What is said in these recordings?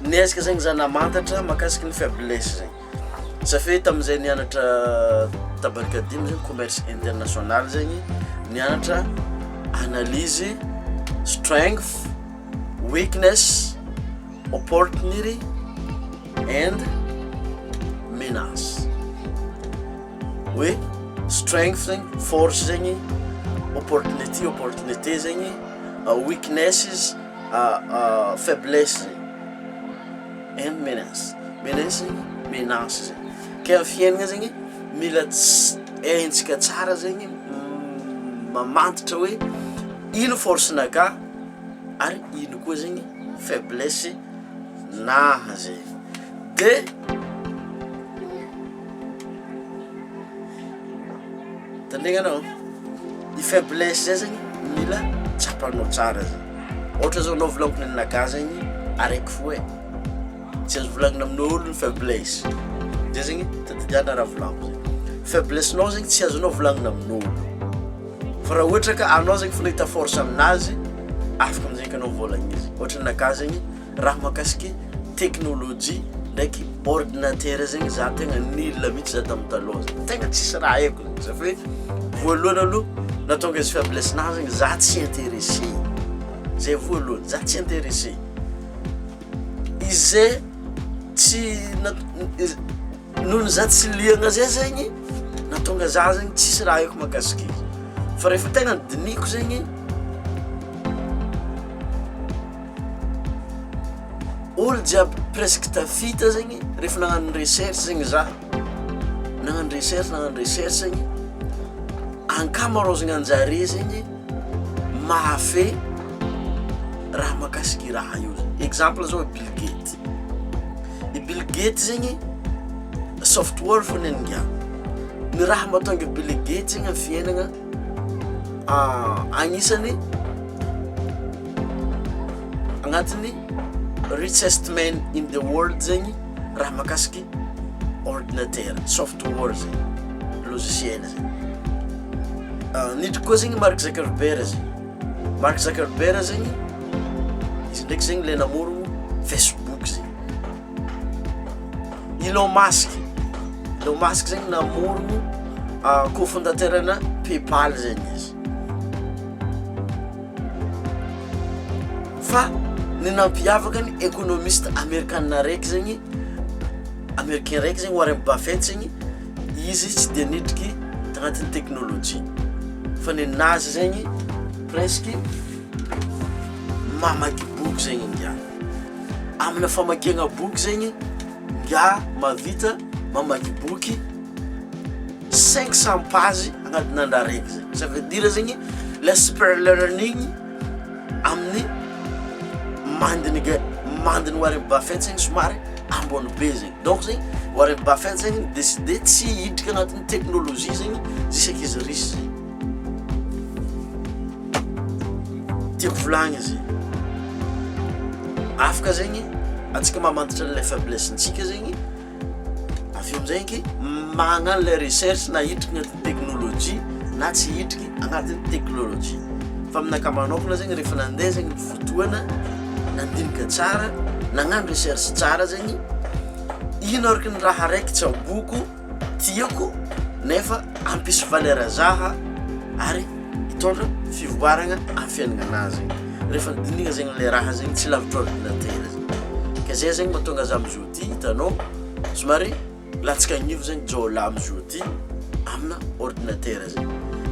Niezaka zegny za namantatra makasiky ny faiblesse zegny, safe tamin'izay nianatra tabarika dimy zegny commerce international zegny nianatra analyse, strength, weakness, opportunity and menace, hoe strength zegny force zegny, opportunity opportunité zegny, weaknesses. faiblesse zay en menace menace menace zay kay am fiainagna zegny mila ts- haintsika tsara zegny m- mamantatra hoe ino force nakah ary ino koa zegny faiblesse naha zay de Tandregny anao, ny faiblesse zay zany mila tsapanao tsara zay, ohatra zao anao volagniko ny an'inagahy zegny araiky fo e, tsy azo volagnina amin'olo ny faiblesse, zay zegny tadidiana raha volagniko zay, faiblesse-nao zegny tsy azonao volagnina amin'olo, fa raha ohatra ka anao zegny efa nahita force aminazy afaka amizay ka anao mivôlagna izy, ohatra ny anakahy zegny. raha mahakasike teknolojia ndraiky ordinatera zegny za tegna nila mihitsy za tamin'ny taloha zany tegna tsisy raha haiko zany za fa hoe voalohany aloha nahatonga izy faiblesse nahy zegny za tsy intéressé zay voalohany za tsy intéressé izay tsy na- iz- Nohon'ny za tsy liagna zay zegny nahatonga za zegny tsisy raha haiko mahakasika izy fa rehefa tegna dinihiko zegny olo jiaby presque tafita zegny rehefa nagnano recherche zegny za nagnano recherche nagnano recherche zegny ankamaroazagna anjare zegny mahafehy raha mahakasika i raha io zegny exemple zao bilgate I Bill Gates zegny software fô ny an'i ngiahy. Ny raha mahatonga i Bill Gates zegny amin'ny fiainagna agnisan'ny agnatin'ny richest man in the world zegny raha mahakasiky ordinatera, software zegny, logiciel zegny. Nidriky koa zegny Mark Zuckerberg zegny. Mark Zuckerberg zegny, izy ndraiky zegny le namoro Facebook zegny. Elon Musk, Elon Musk zegny namoro ah, cofondateur-na PayPal zegny izy. Fa ny nampiavaka ny ekonomista amerikana raiky zegny, americain raiky zegny Warren Buffett zegny, Izy tsy dia nidriky tagnatin'ny teknolojia fa nenazy zegny presque mamaky boky zegny ingahy. Amina famakiagna boky zegny ingahy mahavita mamaky boky cinq cents pages agnatin'ny andro araiky zay. Ça veut dire zegny less per learning. amin'ny mandiny ga mandiny Warren Buffett zegny somary ambony be zegny donc zegny Warren Buffett zegny mi-decider tsy hiditra agnatin'ny teknolojia zegny zisaka izy riche zay tiako volagny izy afaka zegny antsika mamantatra an'ilay faiblesse-ntsika zegny Avy eo amin'izay ange, magnano ilay recherche na hitriky ny technologie na tsy hitriky agnatin'ny technologie. Fa amin'ny ankamaroan'aokana zegny rehefa nandeha zegny ny fotoana, nandinika tsara, nagnano recherche tsara zegny, ino araka ny raha araiky tsaboiko, tiako nefa hampisy valeur zaha ary hitondra fivoaragna amin'ny fiaignanà zegny. Rehefa dinihina zegny ilay raha zegny tsy lavitra ordinatera zegny. Ka zay zegny mahatonga za mizotra. Ty hitanao somary latsaka agnivo zegny jiaolah amizao ty amina ordinatera zay.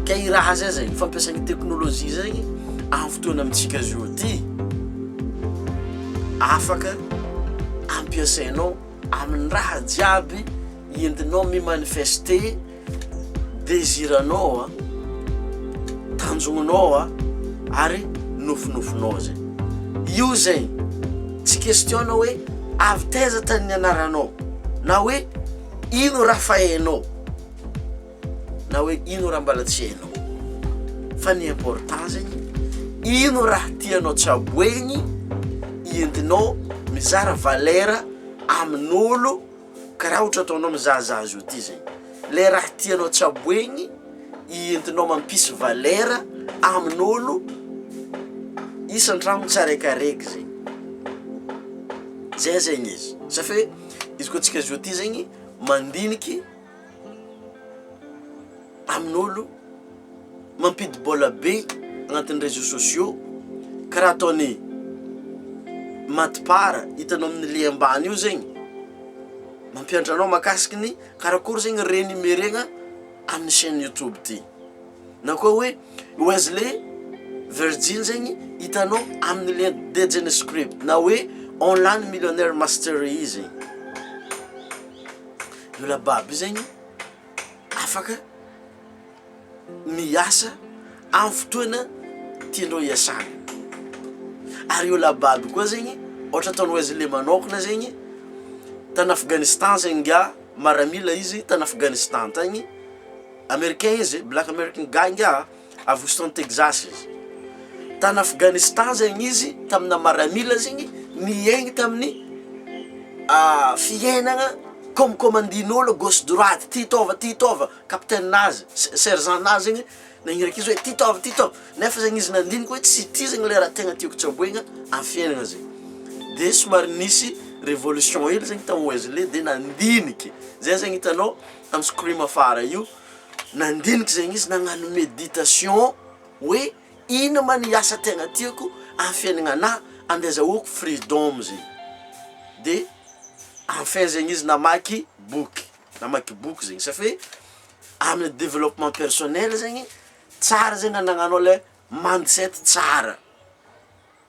Ka i raha zay zay fampiasana teknolojia zegny am fotoana amintsika zao ty afaka ampiasainao aminy raha jiaby entinao mi manifeste. Desiranao a, tanjognonao a, ary nofinofinao zay. Io zay, tsy question-na hoe avy taiza tany nianaranao, na hoe ino raha fa hainao, na hoe ino raha mbala tsy hainao. Fa ny important zegny, ino raha tianao tsaboegny, entinao mizara valera amin'olo. Ka raha ohatra ataonao mizahazaha azy io ty zay le raha tianao tsaboegny i entinao mampisy valera amin'olo isan-tragno tsaraikaraiky zay zay zegny izy, safio e izy koa tsika zao ty zegny mandiniky. amin'olo mampidi-bola be agnatin'ny réseaux sociaux karaha ataon'i Madpar hitanao amin'ny lien ambany io zegny, mampianatra anao makasiky ny karakory zegny renumeraigna amin'ny chaine youtube ty, na koa hoe Wesley Virgin zegny hitanao amin'ny lien dejin'script na hoe online millionnaire mastery zegny. io lababy io zegny afaka miasa amin'ny fotoana tianao hiasana ary io lababy io koa zegny ohatra ataonao izy le manôkagna zegny tany Afghanistan zegny ngiahy maramila izy tany Afghanistan tagny Americain izy black American guy ngiahy. A Houston, Texas izy. Tany Afghanistan zegny izy tamina maramila zegny niaigny tamin'ny fiainagna comme commandin'olo gauche droite ty taova ty taova capitaine nazy sergent nazy zegny nagniraky izy hoe ty taova ty taova nefa zegny izy nandinika hoe tsy ty zegny le raha tegna tiako tsaboigna amin'ny fiainagna zegny de somary nisy révolution hely zegny tao Wesley de nandiniky zay zegny hitanao am scream afara io Nandinika izay izy nagnano meditation hoe ino ma ny asa tegna tiako am fiaignagna an de azahoako freedom zegny de en fin zegny izy namaky boky namaky boky zegny safi hoe aminy developpement personnel zegny tsara zegny anagnanao le mindset tsara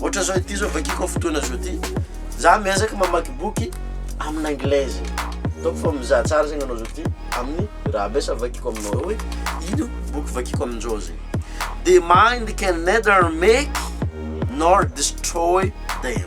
Ohatra zao ity zao vakiko fotoana zao ty. Za miezaka mamaky boky amin'ny anglaise. Ataoko fa mizaha tsara zegny anao zao ty amin'ny raha ambesa vakiko aminao hoe ino boky vakiko amin'izao zegny. The mind can neither make nor destroy them.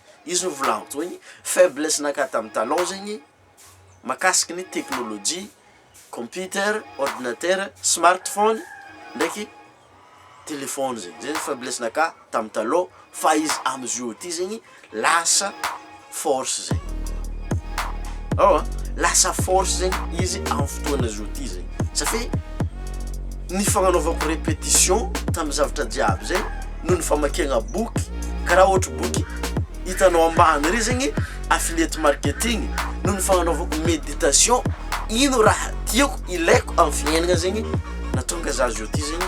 Izy no volagno teo igny, faiblesse naka tam talon zegny makasiky ny teknolojia, computer, ordinateur, smartphone ndraiky telephone zegny, zay ny faiblesse naka tam talon fa izy amzio ty zegny lasa force zegny, ao an, lasa force zegny izy am fotoagna zao ty zegny satria ny fagnanaovako repetition tam zavatra jiaby zay. noho ny famakiagna boky ka raha ohatry boky hitanao ambany re zegny affiliate marketing noho ny fagnanaovako méditation ino raha tiako ilaiko amy fiaignagna zegny nahatonga za zao ty zegny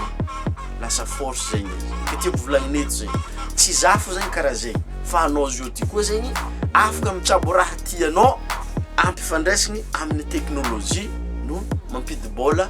lasa force zegny ka tiako volagnina eto zegny tsy za fo zegny karaha zegny fa anao zao ty koa zegny afaka mitsabo raha tianao ampifandraisigny amin'ny teknolojia no mampidi-bôla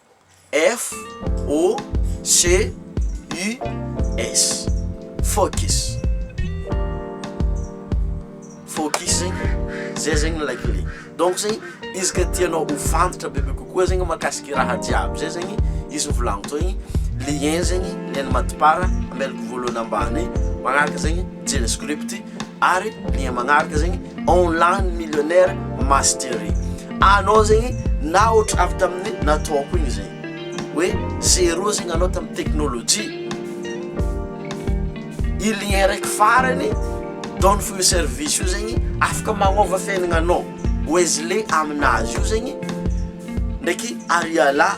F-O-C-U-S, focus, focus zegny zay zegny ilay clé, donc zegny izy ka tianao ho fantatra bebe kokoa zegny mahakasika i raha jiaby zay zegny izy novolaniko teo igny, lien zegny, lien-n'ny mati-part, amelako voalohany ambany, manaraka zegny JavaScript. ary dia magnaraka zegny online millionnaire mastery anao zegny na ohatra avy tamin'ny nataoko igny zegny hoe zéro zegny anao tamin'ny teknolojia i lien raiky farany donne fo io service io zegny afaka magnova fiainagnanao wesley aminazy io zegny ndraiky ariala